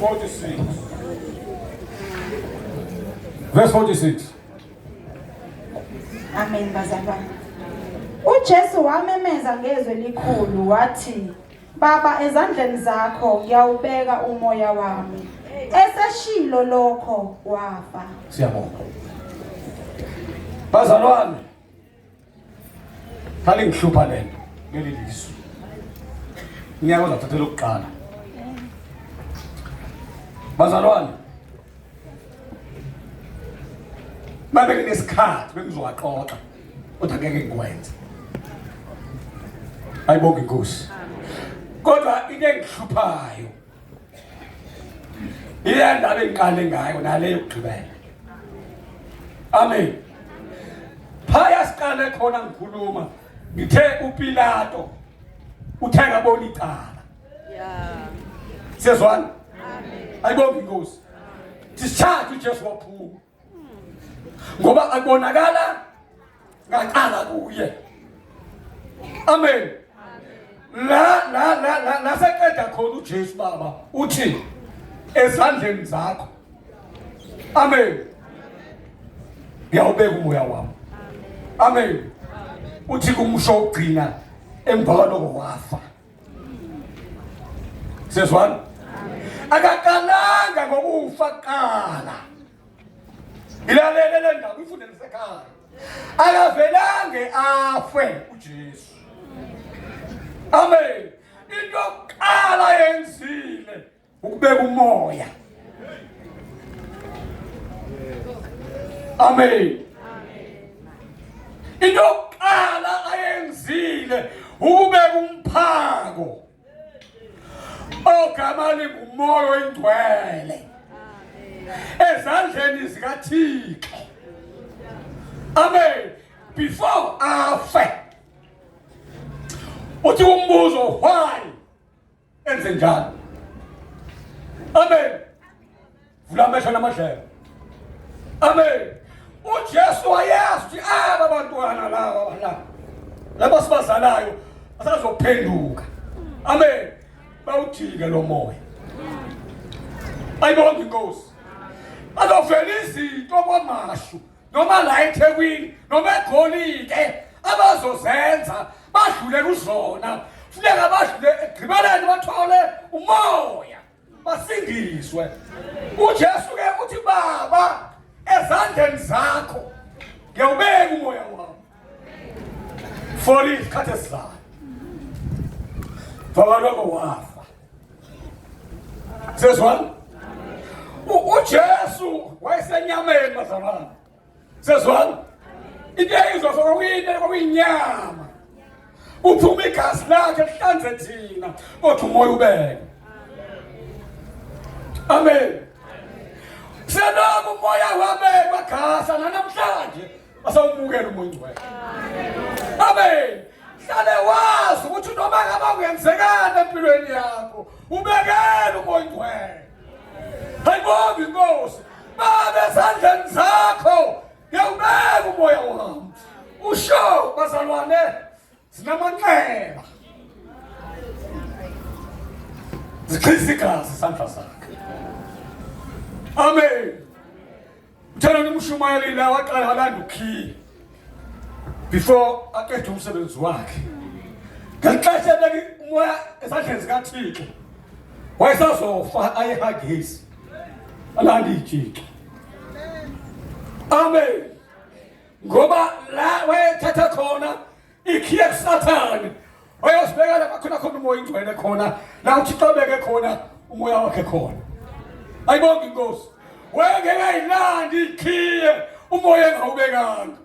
46. Verse 46. Amen bazalwane. UJesu wamemeza ngezwi elikhulu wathi Baba ezandleni zakho ngiyawubeka umoya wami. Eseshilo lokho wafa. Siyabonga. Bazalwane Hali ngihlupha lento leli lizwe. Ngiyake uzathathela ukuqala. Bazalwane. Babe nginesikhathi bengizowaxoxa. Kodwa ngeke ngikwenze. Ayibonge inkosi. Kodwa into engihluphayo Iya ndaba engiqale ngayo nale yokugqibela. Amen. Phaya siqale khona ngikhuluma ngithe uPilato uthe ngabona icala. Yeah. Siyezwana? Amen. Ayibonga inkosi. Sishathe uJesu waphuma. ngoba akubonakala ngaqala kuye amen la la la la naseqeda khona uJesu baba uthi ezandleni zakho amen ngiyawubeka umoya wami amen uthi kumsho ugcina emva kwaloko wafa sezwana akaqalanga ngokufa kuqala ilalele le ndaba ifunde lisekhaya akavelange afe ujesu amen into yokuqala yenzile ukubeka umoya amen into yokuqala ayenzile ukubeka umphako ogama lingumoya oyingcwele ezandleni zikathixo amen before afe uthi umbuzo why enze njalo amen vula amehlo namadlelo amen ujesu wayazi ukuthi aba bantwana laba balaba laba sibazalayo asazophenduka amen bawujike lo moya ayibonga inkosi bazovela izinto kwamashu noma la ethekwini noma egolide abazozenza badlule kuzona funeka badlule egqibeleni bathole umoya basindiswe ujesu ke uthi baba ezandleni zakho ngiyawubeka umoya wami for isikhathi esizayo vabaloko wafa sezwana ujesu wayesenyameni bazalwana sezwana into eyizwa so kwakuyinto kwakuyinyama uphuma igazi lakhe lihlanze thina kodwa umoya ubeke amen selokhu umoya wabekwa gasa nanamhlanje asawumukele umongcwele amen hlale wazi ukuthi noma ngaba kuyenzekana empilweni yakho ubekele umongcwele hayibonge inkosi baba esandleni zakho ngiyawubeka umoya wami usho bazalwane zinamanxeba zichisa igazi isandla sakhe amen Thela umshumayeli la waqala walanda ukhiye before aqede umsebenzi wakhe. Ngexesha leli umoya esandleni zikaThixo wayesazofa ayehagezi alanda ijixo. Amen. Ngoba la wayethatha khona ikhiye kusathane oyosibeka lapha khona khona umoya ingcwele khona la uthixo obeke khona umoya wakhe khona ayibonga inkosi wengekayilandi ikhiye umoya engawubekanga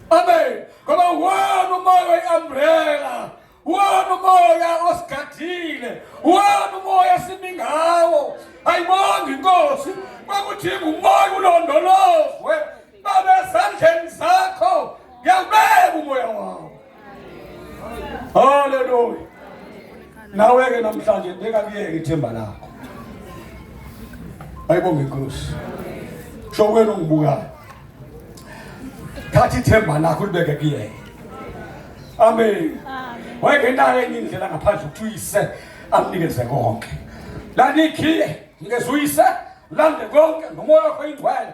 amen ngoba wona umoya oyi-umbrella wona umoya osigadile wona umoya simi ngawo ayibonga inkosi kwakuthi ngumoya ulondolozwe Baba esandleni sakho ngiyawubeka umoya wawo. Hallelujah. Nawe ke namhlanje ndingakuyeki ithemba lakho. Ayibonge inkosi. Sho wena ungibukayo. Thatha ithemba lakho ulibeke kuyena. Amen. Wayeke nayo enye indlela ngaphandle ukuthi uyise amnikeze konke. Lanikhile ngizuyise lande konke nomoya wakho ingcwele